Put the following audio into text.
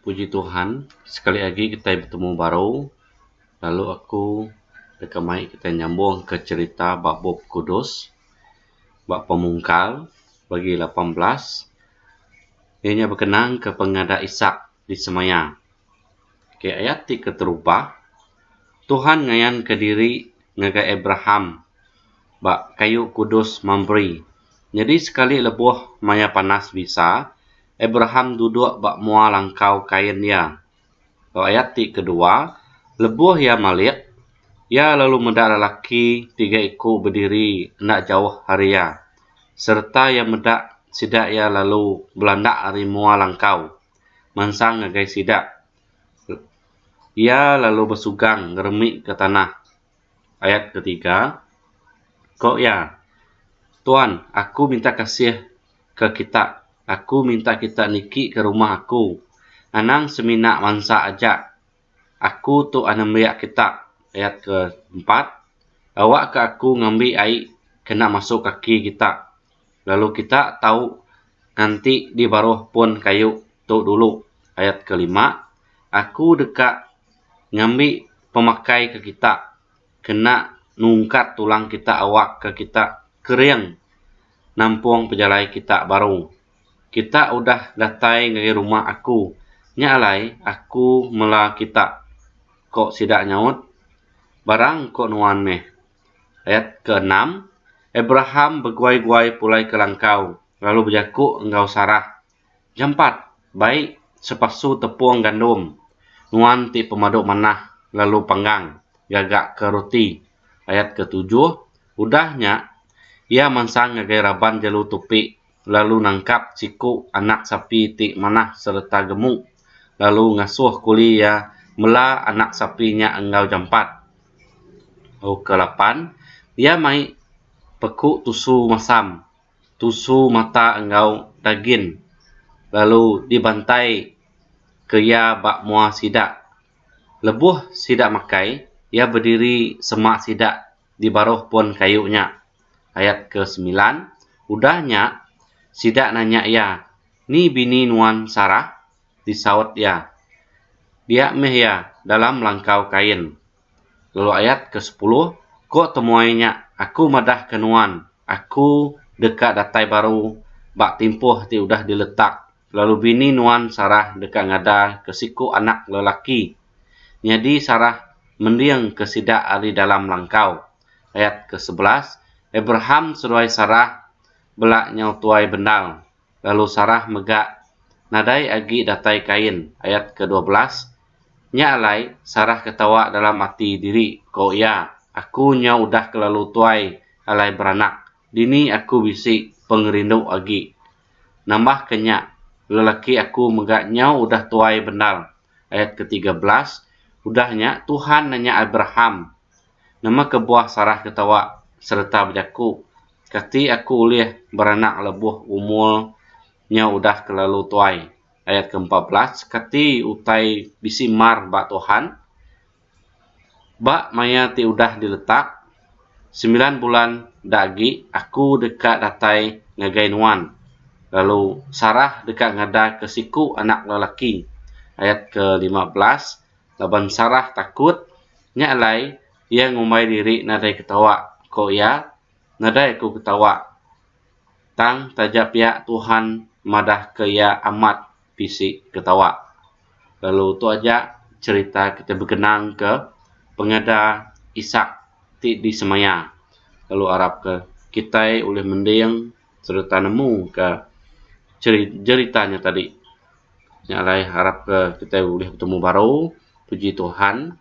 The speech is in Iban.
Puji Tuhan sekali agi kitai betemu baru lalu aku deka mai kitai nyambung ke cherita ba Bup Kudus ba Pemungkal pagi lapan belas iya nya bekenang ke pengadak Isak di semaya. Okay ayat ti keterubah Tuhan ngayan ke diri ngagai Abraham ba kayu kudus Mamre nyadi sekali lebuh maya panas bisa Abraham duduk ba mua langkau kain iya. Ba ayat ti kedua, lebuh iya malik, iya lalu meda lelaki tiga iku bediri enda jauh ari iya, sereta iya meda sida iya lalu belandak ari mua langkau, mansang ngagai sida. Iya lalu besugang ngeremika tanah. Ayat ke tiga, Ko iya, Tuan, aku minta kasih ke kita, aku minta kita niki ke rumah aku, anang semina mansa aja. Aku tu anembiak kita. Ayat ke empat, Awak ke aku ngambi ai kena masu kaki kita, lalu kita tau nganti di baruh pun kayu tu dulu. Ayat ke lima, Aku deka. ngambi pemakai ke kita kena nungkat tulang kita awak ke kita kering nampung pejalai kita baru. Kita udah datai ngagai rumah aku nya alai aku mela kita, ko sida nyaut. Barang engko nuan meh. Ayat keenam, Abraham beguai-guai pulai ke langkau lalu bejaku enggau Sarah, Jampat, bai sepasu tepung gandum nuan ti pemadu manah lalu panggang gaga ke roti. Ayat ke tujuh, udah nya iya mansang ngagai raban jelu tupi lalu nangkap siku anak sapi ti manah sereta gemu lalu ngasuh kuli iya mela anak sapi nya enggau jampat. Lalu ke lapan, iya mai peku tusu masam. tusu mata enggau dagin lalu dibantai ke iya ba mua sida. Lebuh sida makai, iya bediri sema sida di baruh pun kayu nya. Ayat ke semilan, Udah nya, sida nanya iya, Ni bini nuan Sarah? Disaut iya, Dia meh iya, dalam langkau kain. Lalu ayat ke sepuluh, Ko temuai nya, Aku madah ke nuan, Aku deka datai baru ba timpuh ti udah diletak, lalu bini nuan Sarah deka ngada ke siku anak lelaki. Nyadi Sarah mending ke sida ari dalam langkau. Ayat ke sebelas, Abraham seduai Sarah bela nyau tuai bendar. lalu Sarah mega nadai agi datai kain, ayat ke dua belas. Nya alai, Sarah ketawa dalam ati diri, ko iya, Aku nyau udah kelalu tuai alai beranak, dini aku bisi pengerindu agi? Nambah ke nya, lelaki aku mega nyau udah tuai bendar, ayat ke tiga belas. Udah nya, Tuhan nanya Abraham, Nama kebuah Sarah ketawa sereta bejaku, Kati aku ulih beranak lebuh umur nya udah kelalu tuai? Ayat ke empat belas, Kati utai bisi mar ba Tuhan? Ba maya ti udah diletak, sembilan bulan da agi aku deka datai ngagai nuan, lalu Sarah deka ngadaka siku anak lelaki. Ayat ke lima belas, Laban Sarah takut, nya alai, Iya ngumbai diri nadai ketawa, ko iya. Nadai aku ketawa. Tang taja pia Tuhan madah ke iya amat bisi ketawa. Lalu tu aja cerita kita bekenang ke pengeda Isak ti di semaya. Lalu arap ke kitai ulih mending sereta nemu ke ceri jerita nya tadi. Nya alai arap ke kitai ulih betemu baru. Puji Tuhan.